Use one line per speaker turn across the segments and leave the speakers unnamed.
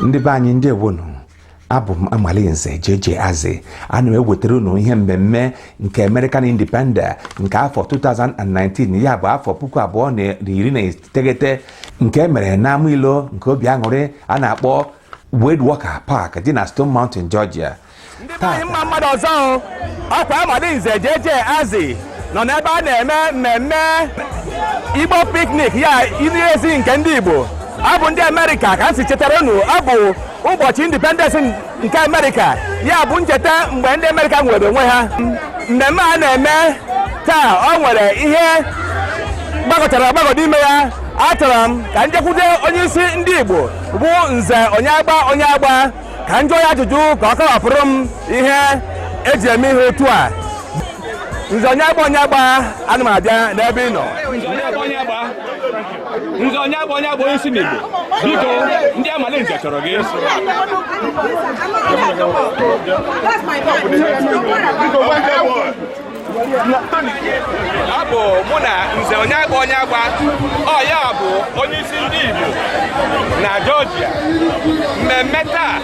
ndị be anyị ndeewonụ abụ m amalinze jeje azị ana m ewetara unu ihe mmemme nke American Independence nke afọ 2019 ya bụ afọ puku abụọ na iri na iteghete nke e mere n'ama ilo nke obi aṅụrị a na-akpọ Wade Walker Park dị na Stone Mountain Georgia ndị be anyị mma mma nụ ọzọ o. ọ kwa amalinze jeje azị nọ n'ebe a na-eme mmemme igbo piknik ya iri ezi nke ndị igbo ọ bụ ndị amerịka ka m si chetara unu ọ bụ ụbọchị independence nke amerịka ya bụ ncheta mgbe ndị amerịka nwere onwe ha mmemme a na-eme taa ọ nwere ihe gbagọchara agbagọ n'ime ya achọrọ m ka njekwute onye isi ndị igbo bụ nze onye agba onye agba ka m jụọ ya ajụjụ ka ọ kọwapụrụ m ihe eji eme ihe otu a nze onye agba onye agba ana m abịa n'ebe ị nọ nze onye agba onye agba onye isi ndị igbo biko ndị amalinze chọrọ gị That's my man. ọ bụ mụ na nze onye agba onye agba ọ ya nwa bụ onye isi ndị Igbo na Georgia mmemme taa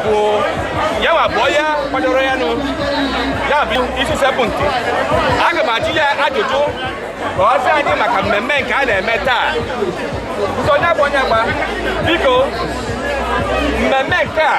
bụ ya nwa bụ onye kwadoro ya nụ ya bụ isi sekpụ ntị aga m ajụ ya ajụjụ ka ọ sị anyị maka mmemme nke a na-eme taa nze onye agba onye agba biko mmemme nke a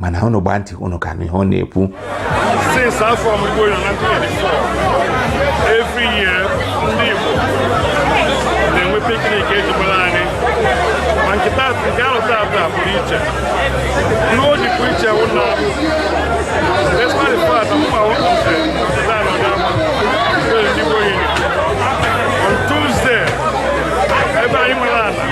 mana unu gbaa ntị unu ka ihe ọ na-ekwu since afọ ọmụmụ ya na 24 every year ndị Igbo na-enwe piknik ejigbara anyị ma nke taata nke ahọ taata pụrụ iche ihe o ji pụrụ iche wụ na despite the fact na mma wụ nke na anọdụ ama ndị Igbo yiri on Tuesday ebe anyị nwere ala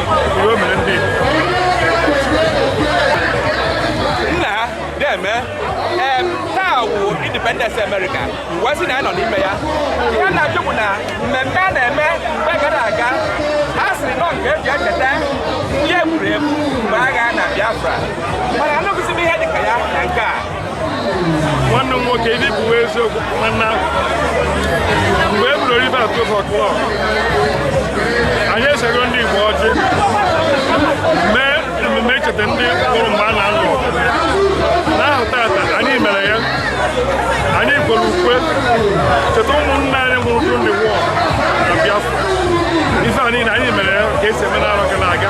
Independence America wee sị na anyị nọ n'ime ya ihe m na-ajụ bụ na mmemme a na-eme mgbe gara aga a sịrị na ọ nke eji echeta ndị e gburu egbu mgbe agha na Biafra mana anụghịzi m ihe dịka ya na nke a nwanne m nwoke ihe bụ eziokwu mana mgbe e bidoro ihe atụ ụfọ klọb anyị esego ndị Igbo e ji mee ememe icheta ndị nwụrụ mgbe a na-alụ ọgụ n'ahọ taata anyị mere ya anyị kwere ukwe cheta ụmụnna anyị nwụrụ during the war na Biafra ife a niile anyị mere ya ka esi eme n'arọ gara aga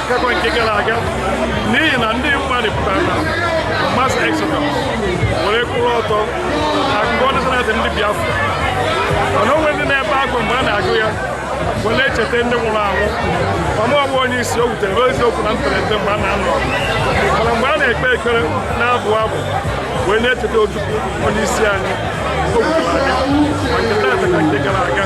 akụkọ nke gara aga n'ihi na ndị mmadụ pụtara na mass exodus were kwụrụ ọtọ agụ national anthem ndị biafra mana o nwere ndị na-ebe akwa mgbe a na-agụ ya were na-echeta ndị nwụrụ anwụ ọmụ ọgbụ onye isi o wutere bụ eziokwu na mperete mgbe a na-anọ mana mgbe a na-ekpe ekpere na-abụ abụ wee na-echeta ojukwu onye isi anyị o gwara anyị ma nke taata ka nke gara aga